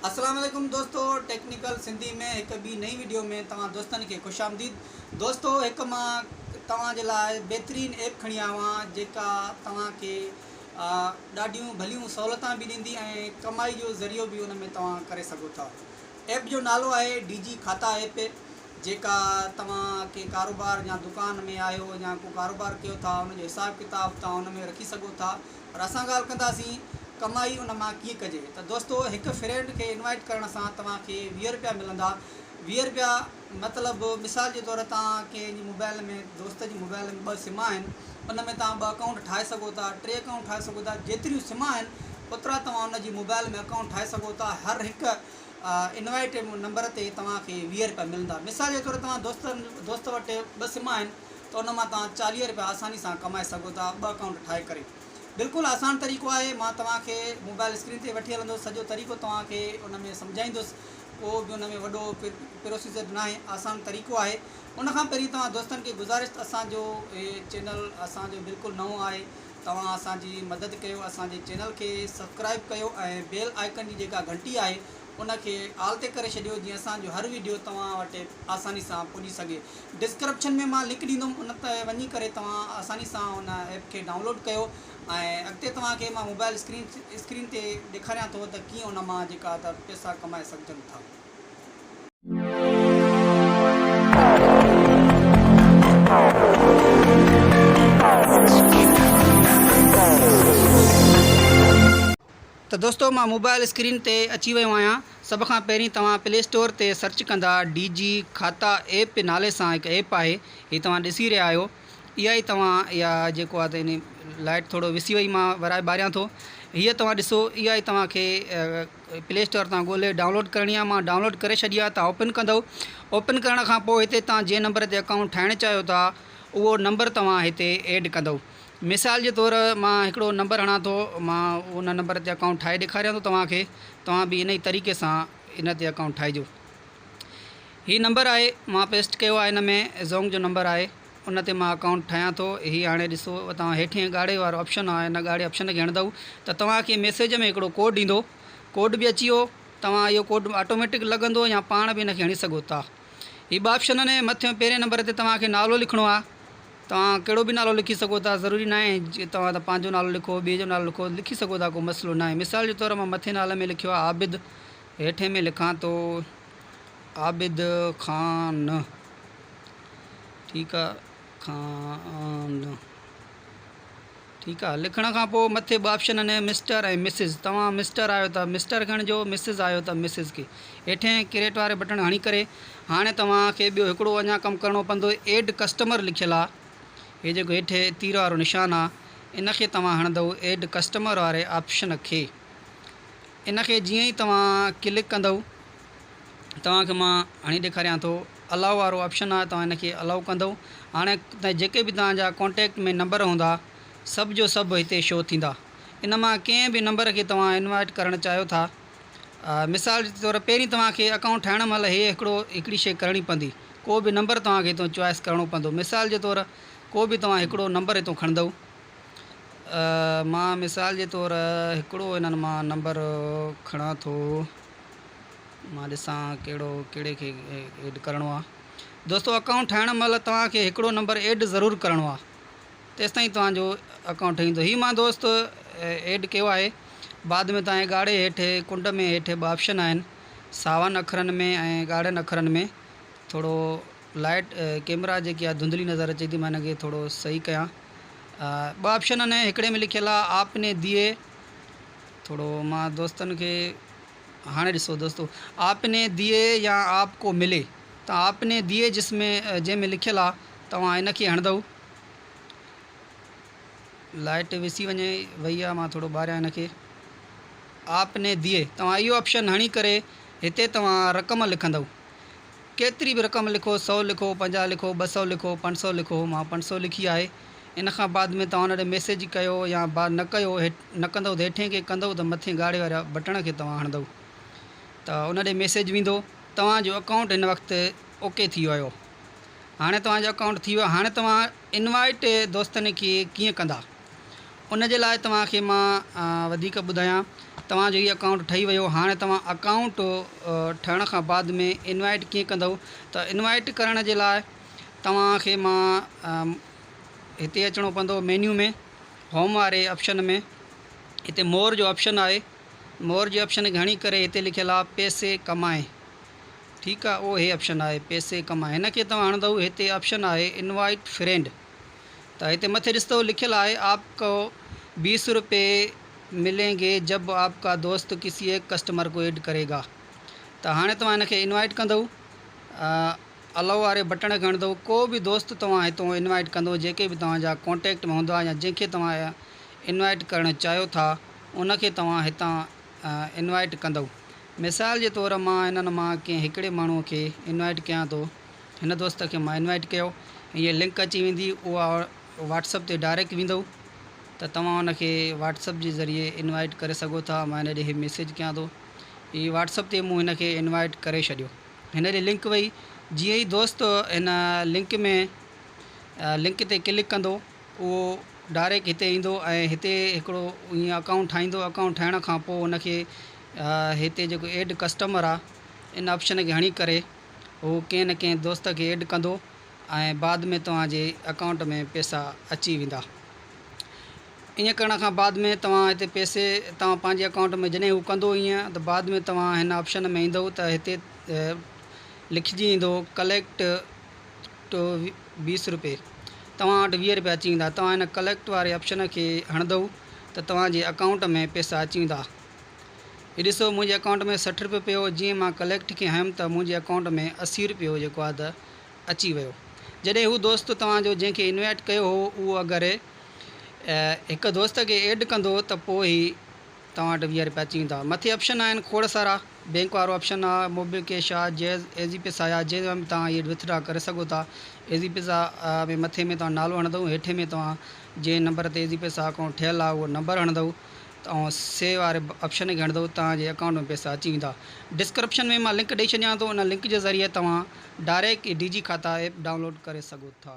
السلام عليڪم دوستو ٽيڪنيڪل سنڌي ۾ هڪ ٻي نئين وڊيو ۾ توهان دوستن کي خوش آمديد دوستو هڪ مان توهان جي لاء بهترين ايپ کڻي آيو آهيان جيڪا توهان کي ڏاڍيون ڀليون سهولتان به ڏيندي ۽ ڪمائي جو ذريعو به ان ۾ توهان ڪري سگهو ٿا ايپ جو نالو آهي ڊي جي کاتا ايپ جيڪا توهان ڪي ڪاروبار يا دڪان ۾ آهيو يا ڪو ڪاروبار ڪيو ٿا ان جو حساب ڪتاب توهان ان ۾ رکي سگهو ٿا پر اسان ڳالهه ڪنداسين ڪمائي ان مان ڪيئن ڪجي ته دوستو هڪ فرينڊ کي انوائيٽ ڪرڻ سان توهان کي ويهه رپيا ملندا ويهه رپيا مطلب مثال جي طور تان ڪنهن جي موبائل ۾ دوست جي موبائل ۾ ٻه سم آهن ان ۾ توهان ٻه اڪائونٽ ٺاهي سگهو ٿا ٽي اڪائونٽ ٺاهي سگهو ٿا جيتريون سم آهن اوترا توهان ان جي موبائل ۾ اڪائونٽ ٺاهي سگهو ٿا هر هڪ انوائيٽ نمبر تي توهان کي ويهه رپيا ملندا مثال جي طور توهان دوستن دوست وٽ ٻه سم آهن ته ان مان توهان چاليهه رپيا آساني سان ڪمائي سگهو ٿا ٻه اڪائونٽ ٺاهي ڪري بلڪل آسان طريقو آهي مان توهان کي موبائل اسڪرين تي وٺي هلندس سڄو طريقو توهان کي ان ۾ سمجهائيندس ڪو به ان ۾ وڏو پروسيجر ناهي آسان طريقو آهي ان کان پهرين توهان دوستن کي گذارش ته اسان جو هي چينل اسان جو بلڪل نئون آهي توهان اسان جي مدد ڪيو اسان جي چينل کي سبسڪرائب ڪيو ۽ بيل آئيڪن جي جيڪا گهنٽي آهي ان کي آل تي ڪري ڇڏيو جيئن اسان جو هر ويڊيو توهان وٽ آساني سان پڄي سگهي ڊسڪرپشن ۾ مان لنڪ ڏيندم ان تي وڃي ڪري توهان آساني سان ان ايپ کي ڊائونلوڊ ڪيو ۽ اڳتي توهان کي مان موبائل اسڪرين اسڪرين تي ڏيکاريان ٿو ته ڪيئن ان مان جيڪا ته پئسا ڪمائي سگهجن ٿا. ته دوستو مان موبائل اسڪرين تي اچي ويو آهيان سڀ کان پهرين توهان پلي اسٽور تي سرچ ڪندا ڊي جي کاتا ايپ نالي سان هڪ ايپ آهي هي توهان ڏسي رهيا آهيو اها ئي توهان اها جيڪو آهي ته لائٽ ٿورو وسي وئي مان ورائي ٻاريان ٿو هيء توهان ڏسو اها ئي توهان کي پلي اسٽور تان ڳولي ڊائونلوڊ ڪرڻي آهي مان ڊائونلوڊ ڪري ڇڏي آهي توهان اوپن ڪندو اوپن ڪرڻ کان پوء هتي توهان جنهن نمبر تي اڪائونٽ ٺاهڻ چاهيو ٿا اهو نمبر توهان هتي ايڊ ڪندو مثال جي طور مان هڪڙو نمبر هڻان ٿو مان ان نمبر تي اڪائونٽ ٺاهي ڏيکاريان ٿو توهان کي توهان به ان ئي طريقي سان ان تي اڪائونٽ ٺاهجو هي نمبر آهي مان پيسٽ ڪيو آهي ان ۾ زونگ جو نمبر آهي ان تي مان اڪائونٽ ٺاهيان ٿو هي هاڻي ڏسو توهان هيٺين ڳاڙهي وارو آپشن آهي ان ڳاڙهي آپشن کي هڻندؤ ته توهان کي ميسيج ۾ هڪڙو ڪوڊ ايندو ڪوڊ به اچي ويو توهان اهو ڪوڊ آٽوميٽڪ لڳندو يا پاڻ به ان کي هڻي سگهو ٿا هي ٻه آپشن آهن مٿيون پهرين نمبر تي توهان کي نالو لکڻو آهي توهان ڪهڙو به نالو لکي سگهو ٿا، ضروري ناهي جي توهان ته پنهنجو نالو لکو، ٻئي جو نالو لکو، لکي سگهو ٿا ڪو مسئلو ناهي، مثال جي طور مان مٿين نالي ۾ لکيو آهي عابد، هيٺين ۾ لکان ٿو عابد خان ٺيڪ آهي خان. ٺيڪ آ لکڻ کان پوء مٿي ٻه آپشنن ۾ مسٽر ۽ مسز توهان مسٽر آهيو ته مسٽر ڳڻجو مسز آهيو ته مسز کي هيٺين ڪريٽ واري بٽڻ هڻي ڪري هاڻي توهان کي ٻيو هڪڙو اڃا ڪم ڪرڻو پوندو ايڊ ڪسٽمر لکيل آ هي جيڪو هيٺي تير وارو نشان آ ان کي توهان هڻندؤ ايڊ ڪسٽمر واري آپشن کي ان کي جيئن ئي توهان ڪلڪ ڪندؤ توهان کي مان هڻي ڏيکاريان ٿو الاء وارو آپشن آهي توهان ان کي الاء ڪندو هاڻي تائين جيڪي به توهان جا ڪانٽيڪٽ ۾ نمبر هوندا سڀ جو سڀ هتي شو ٿيندا ان مان ڪنهن به نمبر کي توهان انوائٽ ڪرڻ چاهيو ٿا مثال جي طور پهرين توهان کي اڪائونٽ ٺاهڻ مهل هي هڪڙو هڪڙي شي ڪرڻي پوندي ڪو به نمبر توهان کي هتو چوائس ڪرڻو پوندو مثال جي طور ڪو به توهان هڪڙو نمبر هتو کڻندو مان مثال جي طور هڪڙو هنن مان نمبر کڻان ٿو مان ڏسان ڪهڙو ڪهڙي کي ايڊ ڪرڻو آ دوستو اڪائونٽ ٺاهڻ مهل توهان کي هڪڙو نمبر ايڊ ضرور ڪرڻو آ تيستائين توهان جو اڪائونٽ ٺهندو هي مان دوست ايڊ ڪيو آهي بعد ۾ توهان کي ڳاڙهي هيٺ ڪنڊ ۾ هيٺ ٻه آپشن آهن ساون اکرن ۾ ۽ ڳاڙهن اکرن ۾ ٿورو لائٽ ڪيمرا جيڪي آ ڌنڌلي نظر اچي ٿي مان هن کي ٿورو صحيح ڪيان ٻه آپشن آهن هڪڙي ۾ لکيل آ آپ ني ديئي ٿورو مان دوستن کي هاڻي ڏسو دوستو آپ ني ديئي يا آپ ڪو ملي ته آپ ني ديئي جس ۾ جنهن ۾ لکيل آ توهان ان کي هڻندؤ لائٽ وسي وڃي وئي آ مان ٿورو ٻاريان ان کي آپ ني ديئي توهان اهو آپشن هڻي ڪري هتي توهان رقم لکندؤ ڪيتري به رقم لکو، سؤ لکو، پنجاهه لکو، ٻه سؤ لکو، پنج سؤ لکو، مان پنج سؤ لکي آهي، ان کان بعد ۾ توهان ان ڏي ميسيج ڪيو يا با نه ڪيو، هيٺ نه ڪندؤ ته هيٺين کي ڪندؤ ته مٿين ڳاڙهي واري بٽڻ کي توهان هڻندؤ ته ان ڏي ميسيج ويندو، توهان جو اڪائونٽ هن وقت اوڪي ٿي ويو، هاڻي توهان جو اڪائونٽ ٿي ويو، هاڻي توهان انوائيٽ دوستن کي ڪيئن ڪندا؟ ان جي لاء توهان کي مان وڌيڪ ٻڌايان توهان جو هي اڪائونٽ ٺهي ويو هاڻي توهان اڪائونٽ ٺهڻ کان بعد ۾ انوائيٽ ڪيئن ڪندؤ ته انوائيٽ ڪرڻ جي لاء توهان کي مان هتي اچڻو پوندو مينيو ۾ هوم واري آپشن ۾ هتي مور جو آپشن آهي مور جي آپشن کي هڻي ڪري هتي لکيل آهي پيسي ڪمائي ٺيڪ آهي اهو هي آپشن آهي پيسي ڪمائي هن کي توهان هڻندؤ هتي آپشن آهي انوائيٽ فرينڊ ته هتي مٿي ڏس ته لکيل آهي آپ ڪو بيس روپيه ملين گي جب آپ ڪا دوست ڪسي ايڪ ڪسٽمر ڪو ايڊ ڪري گا ته هاڻي توهان هن کي انوائيٽ ڪندئو الو واري بٽڻ کي کڻندئو ڪو به دوست توهان هتئون انوائيٽ ڪندئو جيڪي به توهان جا ڪونٽيڪٽ ۾ هوندا يا جنهن کي توهان انوائيٽ ڪرڻ چاهيو ٿا ان کي توهان هتان انوائيٽ ڪندئو مثال جي طور مان هنن مان ڪنهن هڪڙي ماڻهو کي انوائيٽ ڪيان ٿو. هن دوست کي مان انوائيٽ ڪيو هيء لنڪ اچي ويندي اها واٽسپ تي ڊائريڪٽ ويندو ته توهان ان کي واٽسپ جي ذريعي انوائيٽ ڪري سگهو ٿا مان هن ڏي هي ميسيج ڪيان ٿو هي واٽسپ تي مون هن کي انوائيٽ ڪري ڇڏيو هن ڏي لنڪ وئي جيئن ئي دوست هن لنڪ ۾ لنڪ تي ڪلڪ ڪندو اهو ڊائريڪٽ هتي ايندو ۽ هتي هڪڙو ائين اڪائونٽ ٺاهيندو اڪائونٽ ٺاهڻ کان پوء ان کي هتي جيڪو ايڊ ڪسٽمر آهي ان آپشن کي هڻي ڪري هو ڪنهن نه ڪنهن دوست کي ايڊ ڪندو ۽ بعد ۾ توهان جي اڪائونٽ ۾ پئسا اچي ويندا. ائين ڪرڻ کان بعد ۾ توهان هتي پئسي توهان پنهنجي اڪائونٽ ۾ جڏهن هو ڪندو ائين ته بعد ۾ توهان هن آپشن ۾ ايندو ته هتي لکجي ايندو ڪليڪٽ ٽو بيس روپي توهان وٽ ويهه روپيا اچي ويندا توهان هن ڪليڪٽ واري آپشن کي هڻندو ته توهان جي اڪائونٽ ۾ پئسا اچي ويندا. هي ڏسو منهنجي اڪائونٽ ۾ سٺ روپيو پيو هو جيئن مان ڪليڪٽ کي هنيم ته منهنجي اڪائونٽ ۾ اسي روپيو جيڪو آهي ته اچي ويو جڏهن هو دوست توهان جو جنهن کي انوائيٽ ڪيو هو اهو اگر هڪ دوست کي ايڊ ڪندو ته پوء هي توهان وٽ ويهه روپيا اچي ويندا مٿي آپشن آهن کوڙ سارا بينڪ وارو آپشن آ موبي ڪيش آ جيز ايزي پيسا آ جنهن ۾ به توهان ايڊ وٿڊرا ڪري سگهو ٿا ايزي پيسا ۾ مٿي ۾ توهان نالو هڻندو هيٺي ۾ توهان جنهن نمبر تي ايزي پيسا اڪائونٽ ٺهيل آ اهو نمبر هڻندو توهان سيو واري آپشن کي هڻندو توهان جي اڪائونٽ ۾ پئسا اچي ويندا. ڊسڪرپشن ۾ مان لنڪ ڏئي ڇڏيان ٿو ان لنڪ جي ذريعي توهان ڊائريڪٽ ئي D G Khata app download ڪري سگهو ٿا.